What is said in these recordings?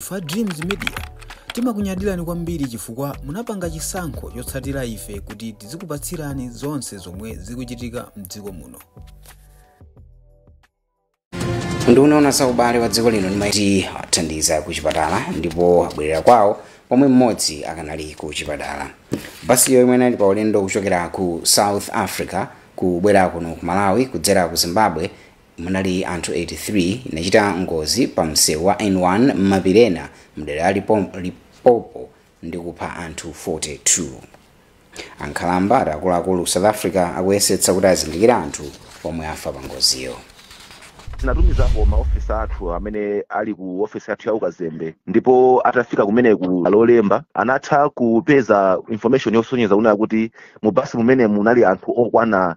Ife a Dreams Media timakunyadirani kwambiri chifukwa munapanga chisankho chotsatira ife kuti tizikupatsirani zonse zomwe zikuchitika mdziko muno. nduna yoona za ubale wa dziko lino ndimaiti athandiza ku chipatala ndipo abwerera kwawo pomwe mmodzi akanali ku chipatala basiyo imene inali pa ulendo kuchokera ku south africa kubwera kuno ku malawi kudzera ku zimbabwe munali anthu 83 inachita ngozi pa msewu wa n1 m'mapiri ena mdera la Limpopo ndi kupha anthu 42 ankhalamba ati akuluakulu ku south africa akuyesetsa kuti azindikire anthu omwe afa pa ngoziyo tinatumizako maofesa athu amene ali ku ofesi yathu ya ukazembe ndipo atafika kumeneku lolemba anatha kupeza information yosonyeza kunena kuti mu basi mumenemo munali anthu okwana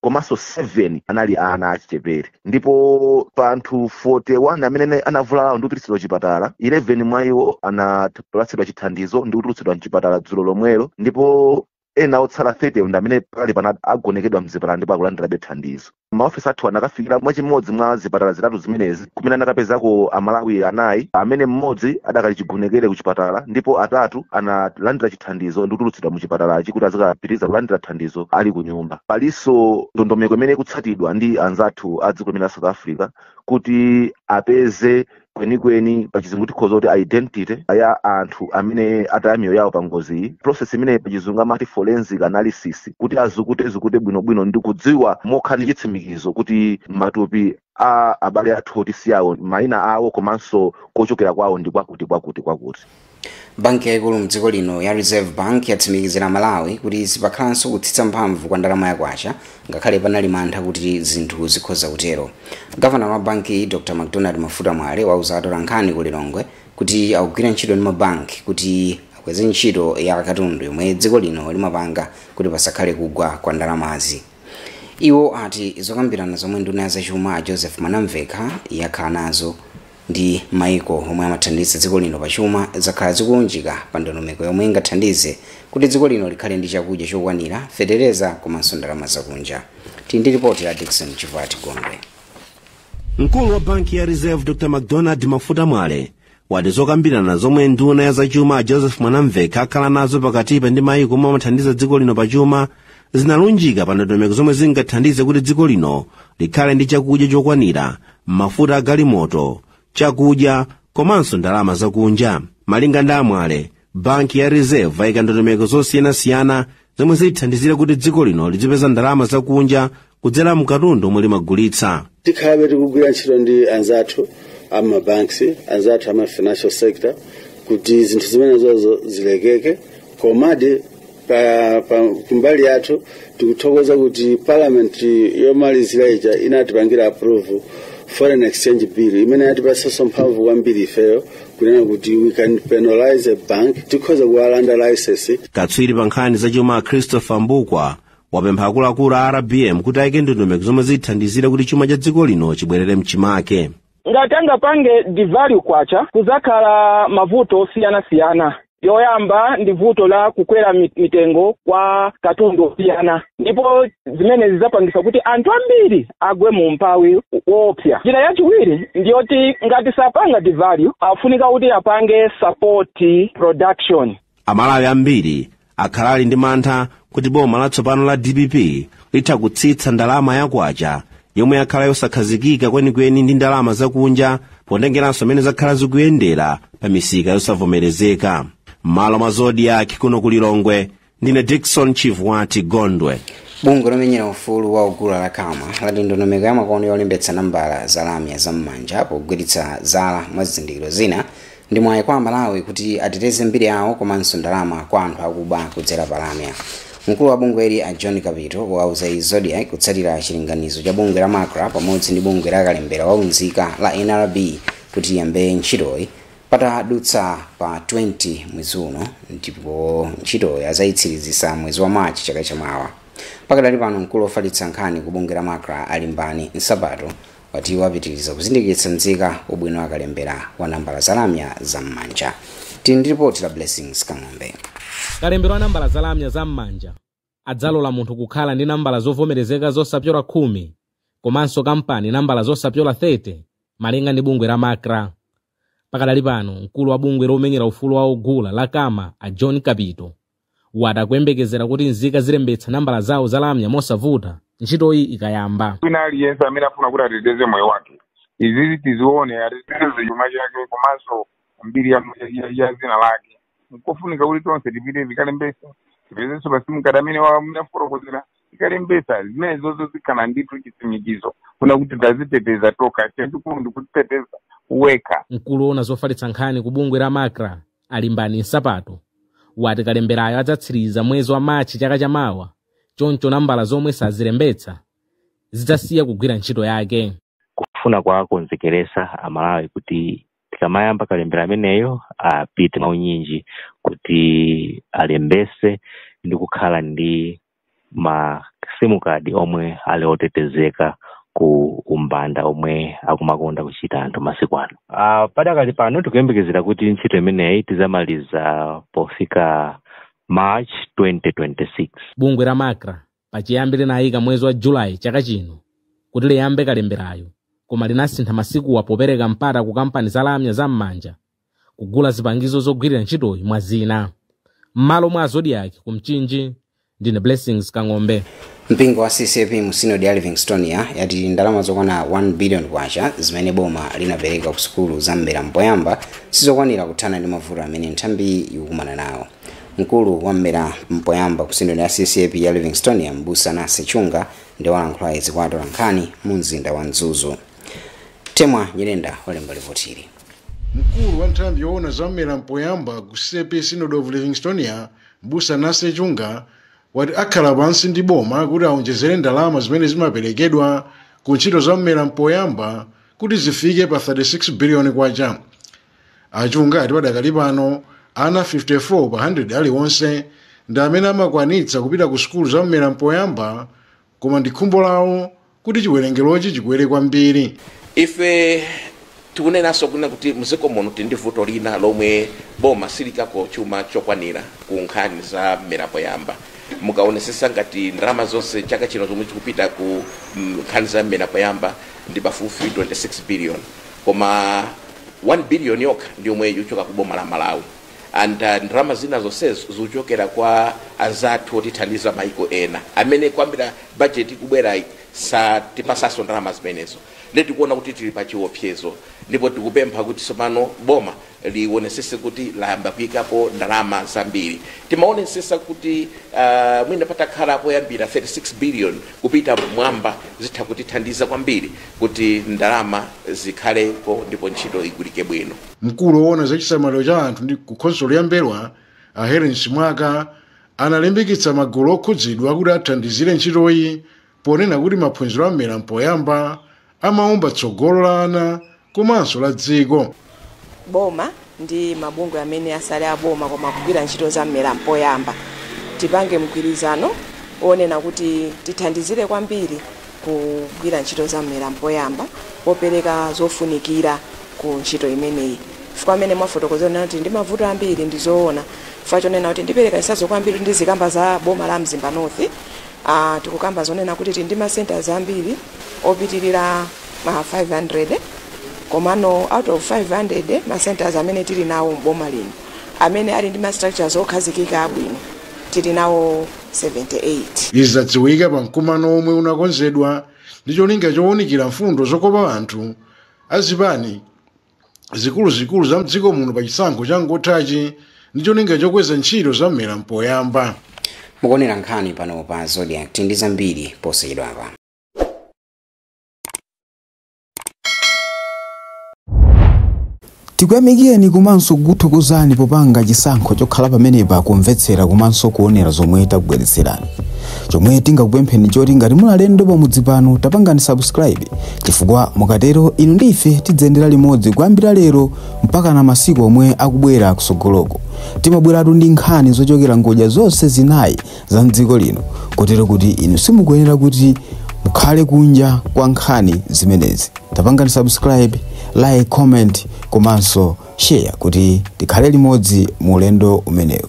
komanso 7 anali ana achichepere ndipo pa anthu 41 amene anavulalawo ndi kupititsidwa chipatala 11 mwa iwo anapatsidwa chithandizo ndi kutulutsidwa mchipatala dzulo lomwelo ndipo ena otsala 30 ndi amene pali pano agonekedwa mzipatala ndipo akulandirabe thandizo maofesa athu anakafikira mwachimodzi mwa zipatala zitatu zimenezi kumene anakapezako amalawi anayi amene mmodzi adakali chigonekere ku chipatala ndipo atatu analandira chithandizo ndi kutulutsidwa mu chipatalachi kuti azikapitiriza kulandira thandizo ali ku nyumba palinso ndondomeko imene ikutsatidwa ndi anzathu a dziko limene la south africa kuti apeze kwenikweni pachizungu tikhoza kuti identity ya anthu amene ataya miyoyo yawo pa ngoziyi process imene pachizungu amati forensic analysis kuti azukutezukute bwinobwino ndi kudziwa mokhala ndi chitsimikizo kuti matupi a abale athu oti ndi awo mayina awo komanso kochokera kwawo ndi kwakuti kwakuti kwakuti banki yaikulu mdziko lino ya reserve bank yatsimikizira amalawi kuti sipakhalanso kutsitsa mphamvu kwa ndalama yakwacha ngakhale panali mantha kuti zinthu zikhoza kutero gavanala wa banki dr macdonald mafuta mwale wauza atolankhani ku lilongwe kuti akugwira ntchito ndi mabanki kuti akweze ntchito ya katundu yomwe dziko lino limapanga kuti pasakhale kugwa kwa ndalamazi iwo ati zokambirana zomwe nduna ya zachuma a joseph mwanamvekha yakhala nazo ndi maiko omwe amathandiza dziko lino pa chuma zakhala zikulunjika pa ndondomeko yomwe ingathandize kuti dziko lino likhale ndi chakudya chokwanira fetereza komanso ndalama zakunja tili ndi ripoti la dickson chivati gondwe mkulu wa banki ya reserve dr macdonald mafuta mwale wati zokambirana zomwe nduna ya zachuma a joseph mwanamvekha akhala nazo pakatipa ndi mayiko omwe amathandiza dziko lino pa chuma zinalunjika pa ndondomeko zomwe zingathandize kuti dziko lino likhale ndi chakudya chokwanira mafuta a galimoto chakudya komanso ndalama zakunja malinga ndi amwale banki ya reserve yaika ndondomeko zosiyanasiyana zomwe zithandizire kuti dziko lino lizipeza ndalama zakunja kudzera m'katundu omwe limagulitsa tikhalabe tikugwira ntchito ndi anzathu a ma banks anzathu a ma financial sector kuti zinthu zimenezozo zilekeke komadi pa, pa kumbali yathu tikuthokoza kuti parliament yomalizira ija inatipangira approve foreign exchange bill imene yatipatsanso mphamvu kwambiri ifeyo kunena kuti we can penalize a bank tikhoza kuwalanda license katswiri pa nkhani zachuma a christopher mbukwa wapempha akuluakulu a rbm kuti ayike ndondomeko zomwe zithandizire kuti chuma cha dziko lino chibwerere mchimake ngati angapange devalue kwacha kuzakhala mavuto osiyanasiyana yoyamba ndi vuto lakukwera mi- mitengo kwa katundu osiyana ndipo zimene zizapangisa kuti anthu ambiri agwe mu umphawi woopsa njira yachiwiri ndiyoti ngati sapanga devalue afunika kuti apange support production amalawi ambiri akhala ali ndi mantha kuti boma latsopano la dpp litha kutsitsa ndalama ya kwacha yomwe yakhala yosakhazikika kwenikweni ndi ndalama zakunja potengeranso mmene zakhala zikuyendera pa misika yosavomerezeka m'malo mwa zodiak kuno ku lilongwe ndine dickson chivwati gondwe bungwe lomenyera ufulu wa ogula la cama lati ndondomeko ya makono yolembetsa nambala za lamya za m'manja pogwiritsa ntchito zala mwa zizindikiro zina Ndi mwayi kwa Amalawi kuti ateteze mbiri yawo komanso ndalama kwa anthu akuba kudzera pa lamya. Mkulu wa bungweli a John Kapito wauza Zodiak kutsatira chilinganizo cha bungwe la Macra pamodzi ndi bungwe la kalembera wa unzika la nrb kuti ayambe ntchitoyi patadutsa pa 20 mwezi uno ndipo ntchitoyi azayitsiriza mwezi wa March chaka chamawa. Pakadali pano mkulu ofalitsa nkhani ku bungwe la Macra a Limbani Nsapato wati iwo apitiriza kuzindikiritsa nzika ubwino wa kalembera wa nambala za lamya za m'manja tili ndi ripoti la blessings kang'ombe kalembera wa nambala za lamya za m'manja adzalola munthu kukhala ndi nambala zovomerezeka zosapyola khumi komanso kampani nambala zosapyola 30 malinga ndi bungwe la macra pakadali pano mkulu wa bungwe lomenyera ufulu wa ogula la cama a john kapito wati akuyembekezera kuti nzika zilembetsa nambala zawo za lamya mosavuta ntchitoyi ikayamba wina aliyense amene afuna kuti ateteze moyo wake izizi tizione ateteze chuma chake komanso mbiri ya, ya, ya zina lake nkofunika kuti tonse tipite tikalembese tipezenso pa sim card amene wa munafotokozera tikalembesa zimenezozo zikhala ndithu chitsimikizo kunena kuti taziteteza tokha chachikulu ndikuziteteza wekha mkulu ona zofalitsa nkhani ku bungwe la macra a limbani nsapato wati kalemberayo adzatsiriza mwezi wa machi chaka chamawa choncho nambala zomwe sazilembetsa zidzasiya kugwira ntchito yake kufuna kuwakonzekeresa amalawi kuti tikamayamba kalembera ameneyo apite mwaunyinji kuti alembese ndi kukhala ndi ma sim card omwe ali otetezeka ku umbanda omwe akumakonda kuchita anthu masiku ano uh, padakali pano tikuyembekezera kuti ntchito imeneyi tizamaliza pofika march 2026 bungwe la macra pachiyambi linayika mwezi wa julayi chaka chino kuti liyambe kalemberayo koma linasintha masikuwa popereka mpata ku kampani za lamya za m'manja kugula zipangizo zogwirira ntchitoyi mwa zina m'malo mwa zodiak ku mchinji ndine blessings kang'ombe mpingo wa ccap mu sinodi ya livingstonia yati ndalama zokwana 1 billion kwacha zimene boma linapereka ku sukulu za mmera mpoyamba sizokwanira kuthana ndi mavuto amene nthambiyi ikukumana nawo mkulu wa mmera mpoyamba ku sinodi ya ccap ya livingstonia mbusa nase chunga ndi walankhula izi kwa atolankhani mu mzinda wa mzuzu temwa nyirenda walemba lipotili Mkulu wa nthambi yoona za mmera mpoyamba ku CCAP Synod of Livingstonia, Mbusa Nase Chunga, wati akhala pansi ndi boma kuti aonjezere ndalama zimene zimaperekedwa ku ntchito za mmera mpoyamba kuti zifike pa 36 biliyoni kwacha. A Chunga ati padakali pano ana 54 pa 100 aliwonse ndi amene amakwanitsa kupita ku sukulu za mmera mpoyamba Koma ndi khumbo lawo kuti chiwerengerochi chikwere kwambiri. Ife tikunenanso kunena kuti mdziko muno tili ndi vuto lina lomwe boma siliikako chuma chokwanira ku nkhani za mmera poyamba. Mukaonesesa ngati ndalama zonse chaka chino zomwe zikupita ku mm, nkhani za mmera poyamba ndi pafupifupi 26 billion koma 1 billion yokha ndi yomwe ikuchoka ku boma la Malawi. and uh, ndalama zina zonsezo zikuchokera kwa anzathu otithandiza maiko ena amene kuyambira bajeti ikubwerayi satipasaso ndalama zimenezo nde tikuona kuti tili pa chiopsezo ndipo tikupempha kuti tsopano boma lionesese kuti layamba kuyikapo ndalama zambiri timaonesesa kuti uh, mwina patakhala poyambira 36 billion kupita mmwamba zitha kutithandiza kwambiri kuti ndalama zikhalepo ndipo ntchito igwirike bwino mkulu woona za chisamaliro cha anthu ndi ku khonsolo ya m'mbelwa a helen simwaka analimbikitsa magulu okhudzidwa kuti athandizire ntchitoyi ponena kuti maphunziro a mmera mpoyamba amaumba tsogolo la ana komanso la dziko boma ndi mabungwe amene sali aboma koma akugwira ntchito za mmera mpoyamba tipange mgwirizano wonena kuti tithandizire kwambiri kugwira ntchito za m'mera mpoyamba popereka zofunikira ku ntchito imeneyi chifukwa mmene mwafotokozera kunena kuti ndi mavuto ambiri ndi zoona chifukwa chonena kuti ndipereka chitsanzo kwambiri ndizikamba za boma la mzimba north uh, tikukamba zonena kuti tili ndi masenters ambiri opitirira ma 500 komano out of 500 masenters amene tili nawo mboma lino amene ali ndi ma structures okhazikika abwino tili nawo 78. Izi zadziwika pa mkumano womwe unakonzedwa ndi cholinga chowunikira mfundo zokopa anthu a zipani zikuluzikulu za mdziko muno pa chisankho changothachi ndi cholinga chokweza ntchito za mmera mpoyamba. mukuonera nkhani pano pa zodiac ndi zambiri posachedwapa tikuyamikireni komanso kukuthokozani popanga chisankho chokhala pamenepa kumvetsera komanso kuonera zomwe takubweretserani chomwe tingakupempheni choti ngati muli alendo pamudzi pano tapangani subscribe chifukwa mukatero inu ndi ife tidziyendera limodzi kuyambira lero mpakana masiku omwe akubwera kusogoloko timabweratu ndi nkhani zochokera ngodya zonse zinayi za mdziko lino kotero kuti inu simukuyenera kuti mukhale kunja kwa nkhani zimenezi tapangani subscribe like comment komanso share kuti tikhale limodzi mu ulendo umenewu